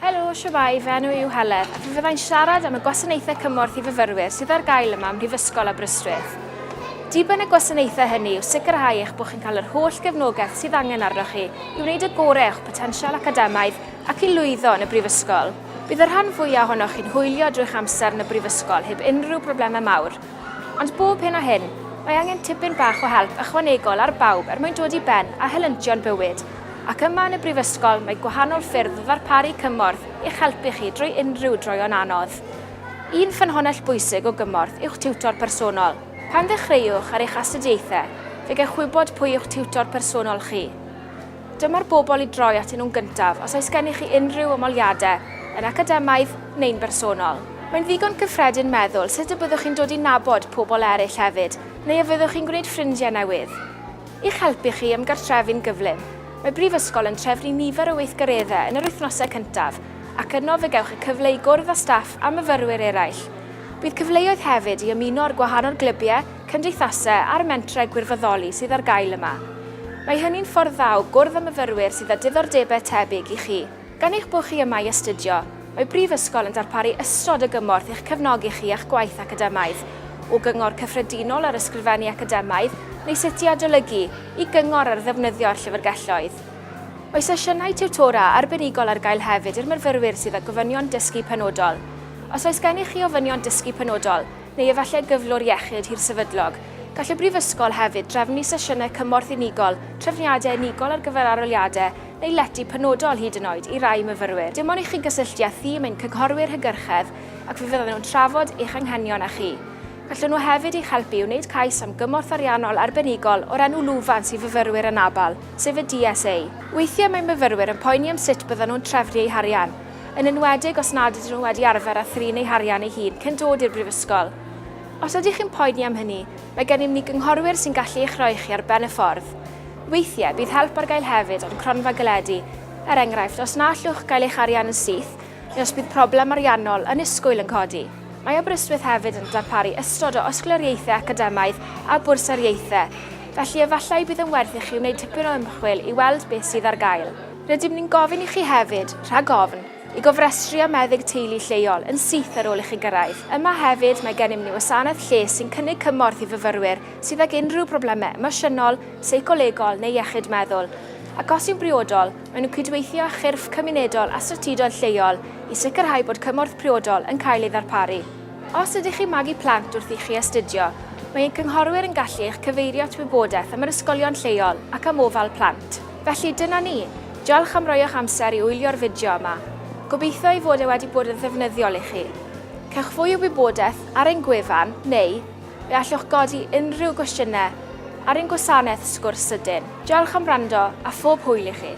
Helo, shwmae, fy enw yw Helen, a fe fyddai'n siarad am y gwasanaethau cymorth i fyfyrwyr sydd ar gael yma ym Mhrifysgol Aberystwyth. Diben y gwasanaethau hynny yw sicrhau eich bod chi'n cael yr holl gefnogaeth sydd angen arnoch chi i wneud y gorau o'ch potensial academaidd ac i lwyddo yn y brifysgol. Bydd y rhan fwyaf ohonoch chi'n hwylio drwy'ch amser yn y brifysgol heb unrhyw broblemau mawr. Ond bob hyn a hyn, mae angen tipyn bach o help ychwanegol ar bawb er mwyn dod i ben â helyntion bywyd, ac yma yn y Brifysgol mae gwahanol ffyrdd o ddarparu cymorth i'ch helpu chi drwy unrhyw droeon anodd. Un ffynhonnell bwysig o gymorth yw'ch tiwtor personol. Pan ddechreuwch ar eich astudiaethau, fe gewch wybod pwy yw'ch tiwtor personol chi. Dyma'r bobl i droi atyn nhw'n gyntaf os oes gennych chi unrhyw ymholiadau, yn academaidd neu'n bersonol. Mae'n ddigon cyffredin meddwl sut y byddwch chi'n dod i nabod pobl eraill hefyd, neu a fyddwch chi'n gwneud ffrindiau newydd. I'ch helpu chi ymgartrefu'n gyflym, mae Brifysgol yn trefnu nifer o weithgareddau yn yr wythnosau cyntaf ac yno fe gewch y cyfle i gwrdd â staff a myfyrwyr eraill. Bydd cyfleoedd hefyd i ymuno â'r gwahanol glybiau, cymdeithasau a'r mentrau gwirfoddoli sydd ar gael yma. Mae hynny'n ffordd dda o gwrdd â myfyrwyr sydd â diddordebau tebyg i chi. Gan eich bod chi yma i astudio, mae Brifysgol yn darparu ystod o gymorth i'ch cefnogi chi a'ch gwaith academaidd, o gyngor cyffredinol ar ysgrifennu academaidd neu sut i adolygu, i gyngor ar ddefnyddio'r llyfrgelloedd. Mae sesiynau tiwtora arbenigol ar gael hefyd i'r myfyrwyr sydd â gofynion dysgu penodol. Os oes gennych chi ofynion dysgu penodol, neu efallai gyflwr iechyd hirsefydlog, gall y Brifysgol hefyd drefnu sesiynau cymorth unigol, trefniadau unigol ar gyfer arholiadau neu lety penodol hyd yn oed i rai myfyrwyr, dim ond i chi gysylltu â thîm ein cynghorwyr hygyrchedd ac fe fyddan nhw'n trafod eich anghenion â chi. Gallwn nhw hefyd eich helpu i wneud cais am gymorth ariannol arbenigol o'r enw lwfans i fyfyrwyr anabl, sef y DSA. Weithiau mae myfyrwyr yn poeni am sut byddan nhw'n trefnu eu harian, yn enwedig os nad ydyn nhw wedi arfer â thrin eu harian eu hun cyn dod i'r brifysgol. Os ydych chi'n poeni am hynny, Mae gennym ni gynghorwyr sy'n gallu eich rhoi chi ar ben y ffordd. Weithiau, bydd help ar gael hefyd o'n cronfa galedu, er enghraifft, os na allwch gael eich arian yn syth neu os bydd problem ariannol annisgwyl yn codi. Mae Aberystwyth hefyd yn darparu ystod o osglariaethau academaidd a bwrsariaethau, felly efallai y bydd yn werth i chi wneud tipyn o ymchwil i weld beth sydd ar gael. Rydym ni'n gofyn i chi hefyd, rhag ofn, i gofrestru â meddyg teulu lleol yn syth ar ôl i chi gyrraedd. Yma hefyd, mae gennym ni wasanaeth lles sy'n cynnig cymorth i fyfyrwyr sydd ag unrhyw broblemau emosiynol, seicolegol neu iechyd meddwl, ac os yw'n briodol, maen nhw'n cydweithio â chyrff cymunedol a strategoedd lleol i sicrhau bod cymorth priodol yn cael ei ddarparu. Os ydych chi'n magu plant wrth i chi astudio, mae ein cynghorwyr yn gallu eich cyfeirio at wybodaeth am yr ysgolion lleol ac am ofal plant. Felly, dyna ni. Diolch am roi eich amser i wylio'r fideo yma. Gobeithio ei fod e wedi bod yn ddefnyddiol i chi. Cewch fwy o wybodaeth ar ein gwefan neu fe allwch godi unrhyw gwestiynau ar ein gwasanaeth sgwrs sydyn. Diolch am wrando a phob hwyl i chi!